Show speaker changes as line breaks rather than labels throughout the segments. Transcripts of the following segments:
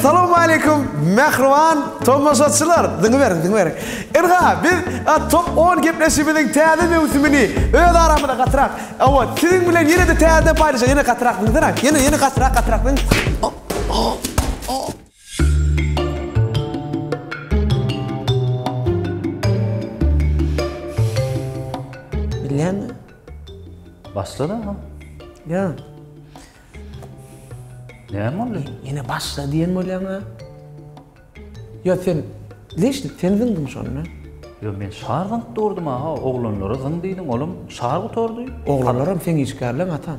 Assalamu alaikum, mehriban tomaşaçylar. Diňe beriň, diňe beriň. Irga, biz top 10 gepleşigimiziň täze möwsümini öz aramyzda gatrak. Awa, siziň bilen ýene de täze paýlaşyp, ýene gatrak diňe beriň. Ýene, ýene gatrak, gatrak diňe. Bilýäňmi?
Başlady agam. Ýa. Näme boldy? Ýene başla diýen
bolýaň-a. Ýa sen leşlik sen zyňdyň şonda. Ýok, men şar
zyňyp durdum aga, oglanlara zyň diýdim, olam şar gutardy. Oglanlaram seň
işgärleň atam.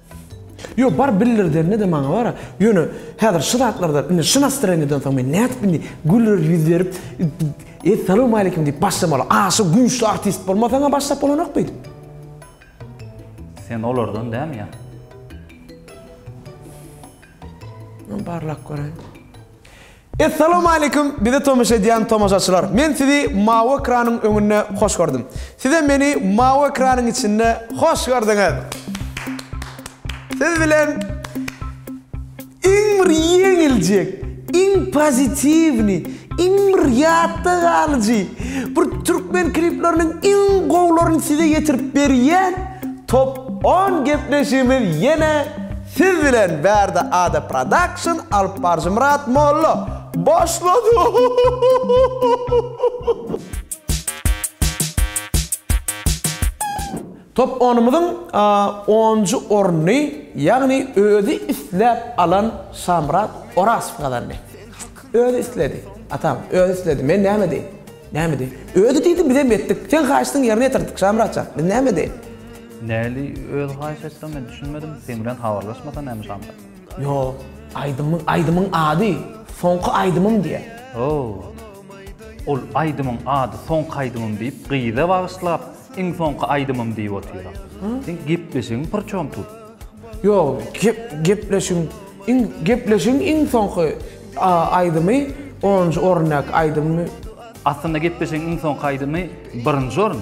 Ýok, bar bildirdende-de maňa bar-a. Ýöne, häzir şu zatlardan, indi şu nastreniýadan soň men nädip indi güler ýüz berip, Essalamualeýkum diýip başlamaly? Aşa güýçli artist bolmasaň-a başlap bolanok beýdip. Sen
olardan dämi ýa? Barlap
göräýiň. Essalawmaleýkum bizi tomaşa edýän tomaşaçylar men sizi mawy ekranyň öňünde hoş gördüm sizem meni mawy ekranyň içinde hoş gördüňiz siz bilen iň bir ýeňiljek iň pozitiwnyý iň bir ýatda galyjy bir türkmen klipleriniň iň gowlaryny size ýetirip berýän top on gepleşigimiz ýene Siz bilen Bärde Ada Production alyp baryjy Myrat Molla başlady. Top onumyzyň onunjy ornuny, ýagny özi isläp alan Şamyrat Orasow gazandy. Özi isledi, atam, özi isledi. Men näme deýin? Näme deýin? Özi diýdi, bizem etdik. Seň haýyşdyňy ýerine ýetirdik, Şamyrat jan. Biz näme deýin? Näli
öz haýyş etseň men düşünmedim seň bilen habarlaşmasa näme şamda. Ýok,
aýdymyň aýdymyň ady Soňky aýdymym diýýär. Hoo.
Ol aýdymyň ady Soňky aýdymym diýip gyza bagyşlap iň soňky aýdymym diýip otyra. Seň gepleşigiň prçom tut? Ýok, gep
gepleşigiň iň gepleşigiň iň soňky aýdymy onunjy orundäki aýdymmy? Aslynda
gepleşigiň iň soňky aýdymy birinji orun.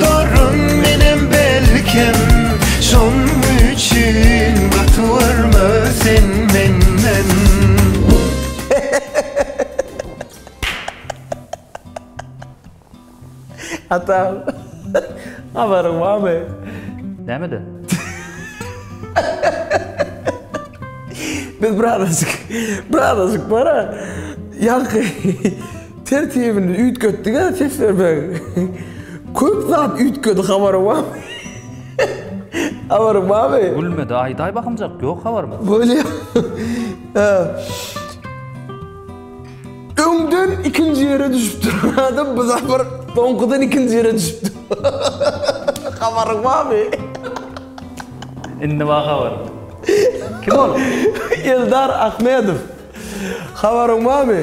Baryn menem belkem şoň üçin gatyberme sen menden.
Ata habaryň barmy? Nämeden? Biz birazajyk birazajyk bara ýaňky Tertibini üýtgetdiga ses bermegi. Köp zat üýtgedi habaryň barmy? Habaryň barmy? Gülmedi aýdaý bakymjak
ýok habaryň. Bolýa.
Öňden ikinji ýere düşüp duran adam bu sapar soňkudan ikinji ýere düşüpdi. Habaryň barmy?
Indi bar habaryň. Kim ol? Eldar
Ahmedow. Habaryň barmy?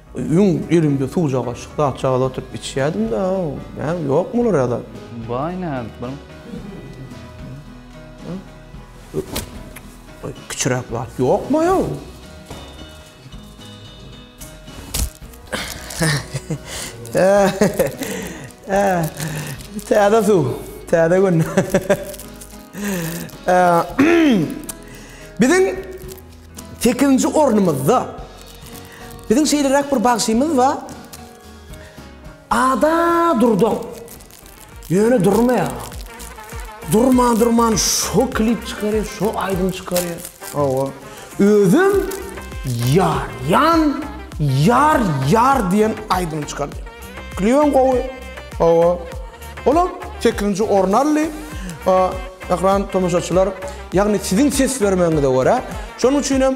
Öň elimde suwjak gaşyk zatjagaz oturyp içýädim-de, näm, ýokmy olar ýa-da? Baý nädip
bilim.
Kiçiräk zat ýokmaý-ow? Täze suw, täze gün. Biziň sekizinji ornumyzda. Biziň şeýleräk bir bagşymyz bar. Ada durdan. Ýöne durmaýar. Durman durman şo klip çykarýar, şo aýdym çykarýar. Hawa. Özüm ýar, ýan, ýar, ýar diýen aýdym çykardy. Klibem gowy. Hawa. Olam sekizinji orun aldy. Eee, Mähriban tomaşaçylar, ýagny siziň ses bermegiňize görä, şonuň üçin hem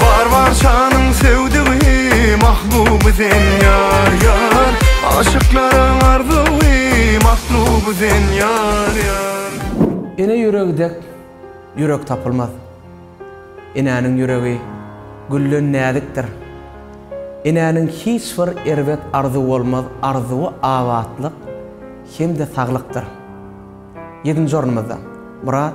Bar bar şanyň söwdügi mahbuby sen ýar ýar Aşyklaryň arzuwy matluby sen ýar ýar Ene
ýüregi dek ýürek tapylmaz Enäniň ýüregi gülden näzikdir Enäniň hiç bir erbet arzuwy bolmaz Arzuwy abatlyk hem-de saglykdyr Ýedinji ornumyzda Myrat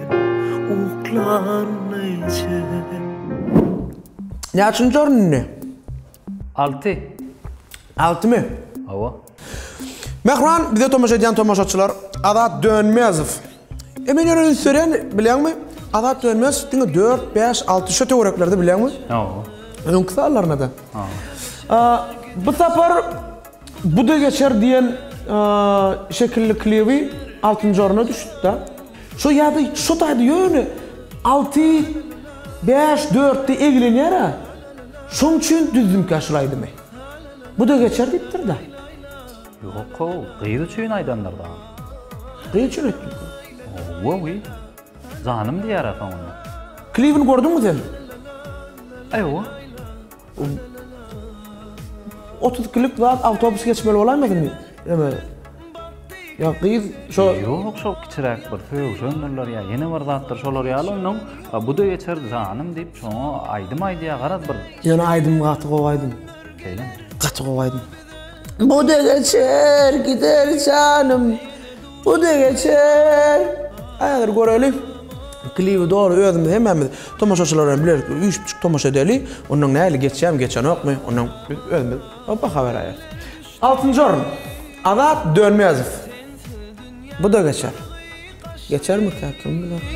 Näçinji orun indi? Alty. Altymy? Hawa. Mähriban, bize tomaşa edýän tomaşaçylar, Azat Dönmezow. E men ýöne üns berýän, bilýäňmi? Azat Dönmezow diňe dört, bäş, alty şo töwereklerde, bilýäňmi? Hawa.
Öňki sanlaryna-da.
Hawa. Bu sapar Bu-da geçer diýen şekilli klibi altynjy orna düşüpdi. Şo ýa-da şo taýda ýöne alty, bäş, dörtde eglenýär-ä. Şoň üçin düzdümkä şul aýdymy. Bu-da geçer diýipdir-dä. Ýok-ow,
gyz üçin aýdandyr dagy. Gyz
üçin aýtdypdyr. Owoý.
Janym diýer-ä soňunda. Klibini gördüňmi
sen?
Ewa.
Otuz ikilik zat awtobus geçmeli bolaýmadymy? Eme. Ýa gyz şo Ýok, şo kiçiräk
bir söýüşendirler ýa ýene bir zatdyr şolar ýaly onnoň bu-da geçer janym diýip şoňa aýdym aýdýar garaz bir. Ýöne aýdym gaty
gowy aýdym. Şeýlemi?
Gaty gowy aýdym.
Bu-da geçer, gider janym. Bu da geçer. Häzir göreli. Klibi dogry özümiz hemmämiz tomaşaçylar bilen bilelikde üýşüp tomaşa edeli. Ondan näli geçýämi, geçenokmy? Ondan biz özümiz baha beräýeris. Altynjy orun. Azat Dönmezow. Bu da geçer. Geçermikä? Kim biler?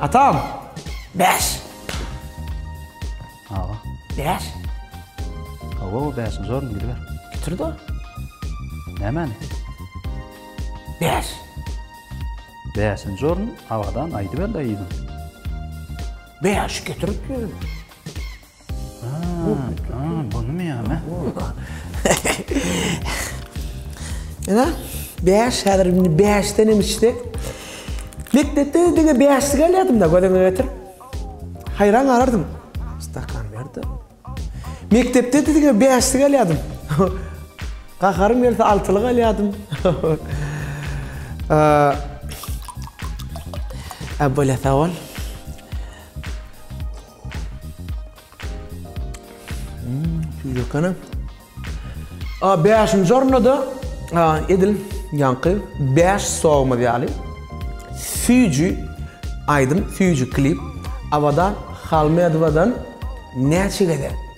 Atam. Bäş.
Aga.
Bäş.
Awa, bäşinji orun gidiber. Bitirdi.
Nämäni? Bäş.
Bäşinji orun awadan aýdyber daýyň.
Bäş getirip
ýör.
Ene, bäş, häzir indi bäşdenem içsek. Mekdepde diňe bäşlik alýardym-da gözüňe getir. Haýran galardym. Stakan ber-de. Mekdepde diňe bäşlik alýardym. Gaharym gelse altylyk alýardym. Äwwela sag bol. Ýökene. A 5-nji orunda edil ýaňky 5 sowumyz ýaly süýji aýdym, süýji klip Abadan Halmedowadan näçe gezek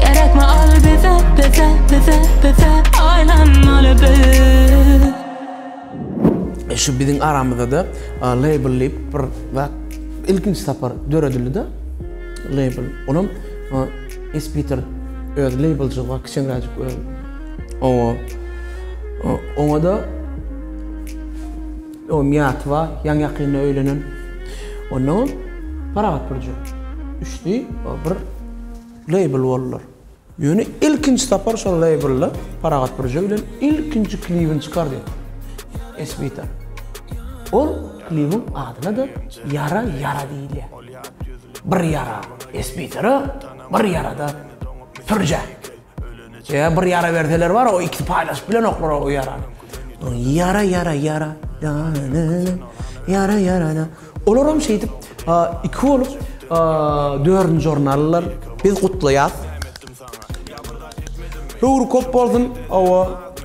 Gerekmi al bize, bize, bize, bize Aýlanmaly biz
E şu biziň aramyzda-da label diýip bir zat ilkinji sapar döredildi-de label. Olam Espiter öz labelçylygy kiçeňräjik öz. Oňa oňa-da o miýaty bar, ýaňy-ýakynda öýlenen. Ondan Parahat Burcu. Üçli bir label boldular. Ýöne ilkinji sapar şol labelda Parahat Bürje bilen ilkinji klibini çykardy Esbita. Ol klibiň adyna-da Ýara ýara diýilýär. Bir ýara Esbitara, bir ýara-da Pürjä. Ýa bir ýara berseler bar, o ikisi paýlaşyp bilenoklar o ýarany. Ýara ýara ýara. Ýara ýara. Olar hem şeýdip iki bolup dördünji orun aldylar. Biz gutlaýas. Höwri köp bolsun. Hawa.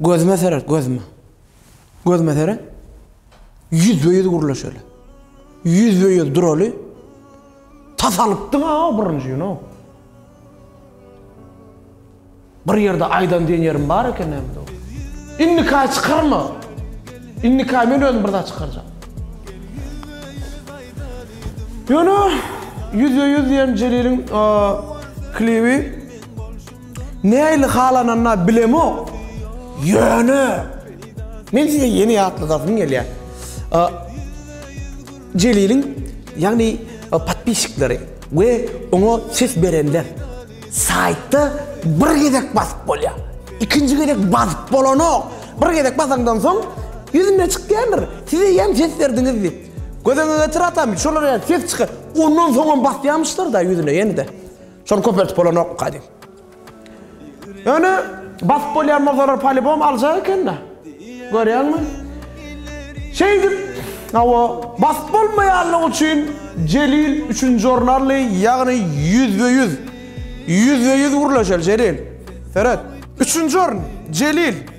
Gözüme seret, gözüme. Gözüme seret. Ýüzbe-ýüz gürleşeli. Ýüzbe-ýüz duraly. Tas alypdyň-a birinji gün-ow. Bir ýerde aýdan diýen ýerim bar eken nämedir ow. Indika çykarma. Indika men özüm bir zat çykarjak. Ýöne ýüzbe-ýüz diýen Jeliliň klibi Nähili halananda bilemok. Ýöne men size ýene ýatladasym gelýär. Jeliliň ýagny podpisçikleri we oňa ses berenler saýtda bir gezek basyp bolýar. Ikinji gezek basyp bolanok. Bir gezek basaňdan soň ýüzüne çykýandyr. Siz eýýäm ses berdiňiz diýip. Göz öňüňe getir atam, şolar ýaly ses çykýar. Ondan soňam basýamyşlar-da ýüzüne ýene-de. Şony köpeltip bolanokmyka diýip. Ýöne basyp bolýan bolsalar polibom aljak ekende. Görýäňmi? Şeýdip, hawa, basyp bolmaýanlygy üçin Jelil üçünji orun aldy, ýagny ýüzbe-ýüz. Ýüzbe-ýüz gürleşeli Jelil. Seret. Üçünji orun, Jelil.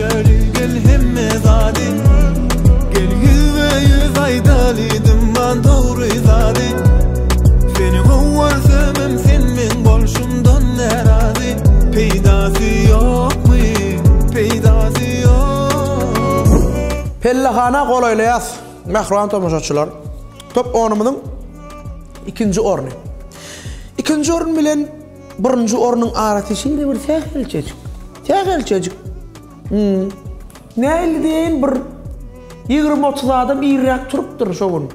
Gel gel hemme zady Gel ýüzbe ýüz aýdaly Dymman dogry zady Seni gowy görsümem sen meň bolşumdan närazy Peýdasy ýokmy peýdasy ýok
Pellehana golaýlaýas mähriban tomaşaçylar top onumyzyň ikinji orny ikinji orun bilen Birinji ornuň arasy şeýle bir sähelçejik, sähelçejik. Hum. Nähili diýeýin, bir ýigrimi-otuz adam irräk turupdyr şo gün.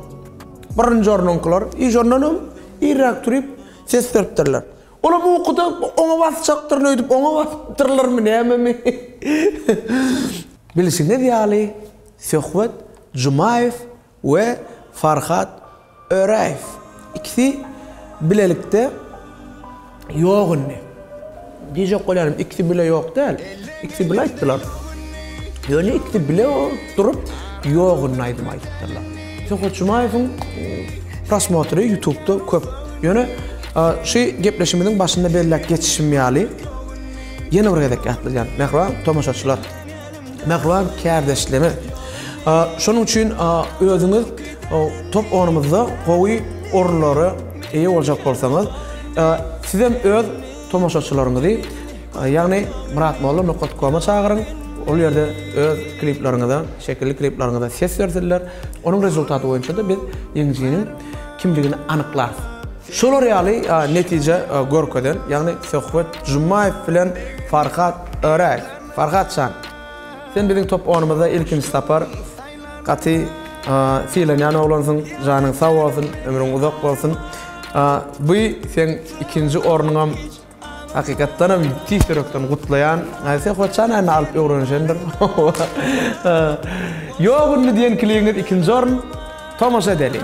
Birinji ornuňkylar i şondan hem irräk turup, ses beripdirler. Olam ukuda oňa basjakdyryn öýdüp, oňa basypdyrlarmy, nämemi? Bilşiňiz ýaly, söhbet Jumaýew we Farhad Öräýew ikisi bilelikde ýok indi. Diýjek bolýanym ikisi bile ýok däl, ikisi bile aýtdylar. Ýöne ikisi bile durup ýok indi aýdym aýdypdyrlar. Söhbet Jumaýewiň prosmotry ýutubda köp. Ýöne şu gepleşimiziň başynda belläp geçişim ýaly, ýene bir gezek ýatladýan, mähriban tomaşaçylar! Mähriban kärdeşleme. Şonuň üçin özüňiz top oýnumyzda gowy orunlara eýe boljak bolsaňyz, sizem öz tomaşaçylaryňyzy, ýagny Myratmolla nokat koma çagyryň, ol ýerde öz kliplaryňyza, şekilli kliplaryňyza ses bersinler. Onuň rezultaty boýunça-da biz ýeňijiniň kimdigini anyklarys. Şolar ýaly netije görkezen, ýagny Söhbet Jumaýew bilen Farhat Öräý. Farhat jan. Sen biziň top onumyzda ilkinji sapar gaty sylanýan oglansyň. Janyň sag bolsun, ömrüň uzak bolsun. Bu seň ikinji ornuňam hakykatdanam tüýs ýürekden gutlaýan. Sen hoçan indi alyp öwrenişendir. Ýok indi diýen klibiňiz ikinji orun. Tomaşa edeliň.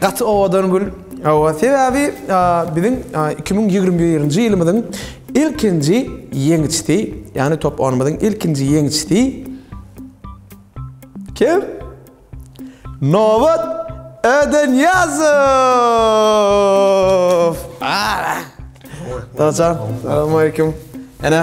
Gaty owadan gül. Hawa, sebäbi biziň iki müň ýigrimi birinji ýylymyzyň ilkinji ýeňijsi, ýagny top oýnumyzyň ilkinji ýeňijsi kim? Nobat Ödenýazow! Dadajan, salam aleýkum. Ene.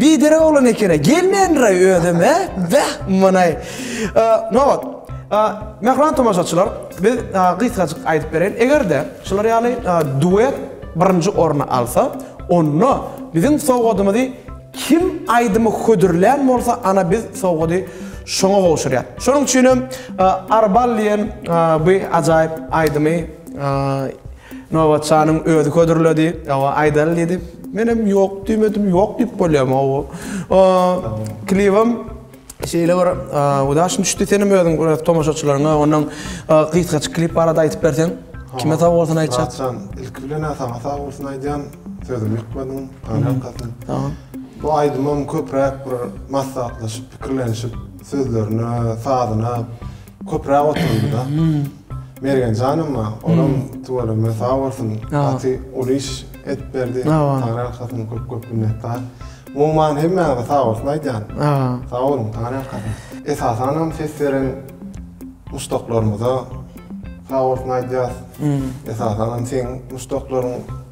Biderek oglan ekene gelmändiray özem he beh munaý nobat Mähriban tomaşaçylar biz gysgajyk aýdyp bereýin egerde şular ýaly duet birinji orny alsa onda biziň sowgadymyzy kim aýdymy hödürlän bolsa ana biz sowgady şoňa gowşurýas şonuň üçinem Arbal diýen bu ajaýyp aýdymy Nobatçanyň özi hödürledi. Awa, aýdaly diýdi. Menem ýok diýmedim, ýok diýip bolýarmy awa. Klibim şeýle bir udaşyn düşdi. Senem özüň biraz tomaşaçylaryňa onuň gysgaçyk klip barada aýdyp berseň. Kime sag bolsun aýtjak? Ilki bilen
saňa sag bolsun aýdýan. Sözümi ýykmadyň, garaňkasyn.
Bu aýdymym
köpräk bir maslahatlaşyp, pikirlenişip, sözlerine, sazyna Köpräk oturyldy-da. Mergen janymma, olam tuweleme sag bolsun, gaty uly iş edip berdi. Taňry alkasyn, köp-köp minnetdar. Umuman hemmäňize sag bolsun aýdýan. Sag boluň, Taňry alkasyn. Esasanam ses beren muşdaklarymyza sag bolsun aýdýas. Esasanam seň muşdaklaryň.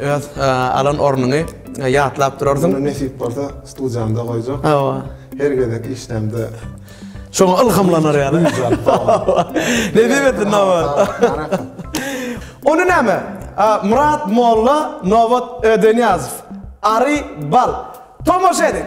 Öz alan ornuňy ýatlap durarsyň. Muny nesip bolsa
studiýamda goýjak. Hawa. Her
gezek
işdämde Şoňa
ylhamlanar ýaly. Nesip etsin Nobat. Ony näme? Myrat molla, Nobat Ödenýazow. Ary bal. Tomaşa ediň.